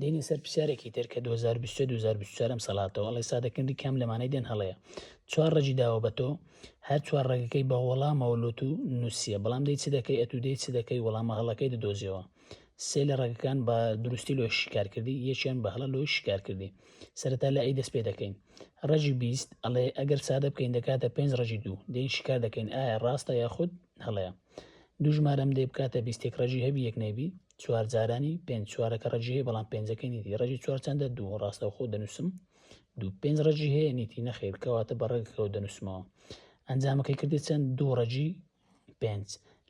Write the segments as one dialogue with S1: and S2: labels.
S1: دێنە سەر پرسیارێکی تر کە دوو هەزار و بیست و سێ دوو هەزار و بیست و چوار ئەم سەلاتەوە ئەڵێ سادەکردنی کام لەمانەی دێن هەڵەیە چوار ڕەگی داوە بە تۆ هەر چوار ڕەگەکەی بە وەڵامەوە لۆ تو نووسیە بەڵام دەی چ دەکەی ئەتوو دەی چ دەکەی وەڵامە هەڵەکەی دەدۆزیەوە سێ لە ڕەگەکان بە دروستی لۆ شیکار کردی یەکیان بە هەڵە لۆ شیکار کردی سەرەتا لە ئەی دەست پێ دەکەین ڕەجی بیست ئەڵێ ئەگەر سادە بکەین دەکاتە پێنج ڕەجی دوو دەین شیکار دەکەین ئایا ڕاستە یاخود هەڵەیە دوو ژمارەم دەی بکاتە بیستێک ڕەجی هەبی یەک نەیبی چوار جارانی پێنج چوارەکە ڕێژی هەیە بەڵام پێنجەکە نیتی ڕێژی چوار چنددە دوو ڕاستەوخۆ دەنووسم دوو پێنج ڕێژی هەیە نیتی نەخیر کەواتە بە ڕێگەکەەوە دەنووسمەوە ئەنجامەکەی کردی چەند دوو ڕێژی پێنج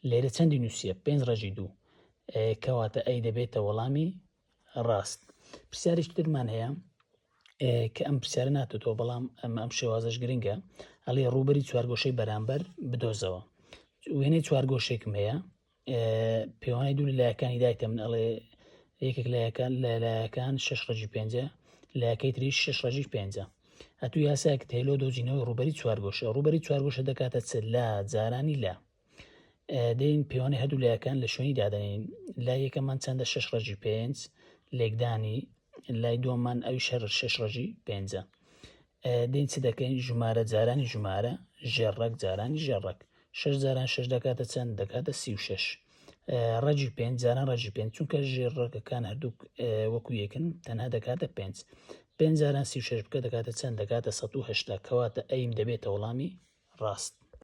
S1: لێرە چەندی نووسە پێنج ڕێژی دوو کەواتە ئەی دەبێتە وەڵامی ڕاست پرسیارش ترمان هەیە کە ئەم پرسیارە ناتێتەوە بەڵام ئەم ئەم شێوازش گرنگە ئەڵێ ڕوبەری چوارگۆشەی بەرامبەر بدۆزەوە وێنەی چوارگۆشێکم هەیە پێوانی دوو لایەکانی دایکە من ئەڵێ یەکێک لایەکان لە لایەکان شش ڕژی پێنجە لایەکەی تری شش ڕژی پێنجە ئەتو یاساک تێلۆ دۆزینەوەی ڕوبەری چوارگۆشە ڕوبەری چوارگۆشە دەکاتە چ لا جارانی لا دەین پێوانی هەردوو لایەکان لە شوێنی دادنین لا یەکەمان چەندە شش ڕژی پێنج لێکدانی لای دۆمان ئەوی شەر شش ڕژی پێنجە دین چ دەکەین ژمارە جارانی ژمارە ژێڕەک جارانی ژێڕەک شش جاران شش دەکاتە چەند دەکاتە سی و شش ڕەجی پێنج جاران ڕەجی پێنج چونکە ژێر ڕەکەکان هەردوو وەکو یەکن تەنها دەکاتە پێنج پێنج جاران سی و شش بکە دەکاتە چەند دەکاتە 1970 کەواتە ئەیم دەبێتە وەڵامی ڕاست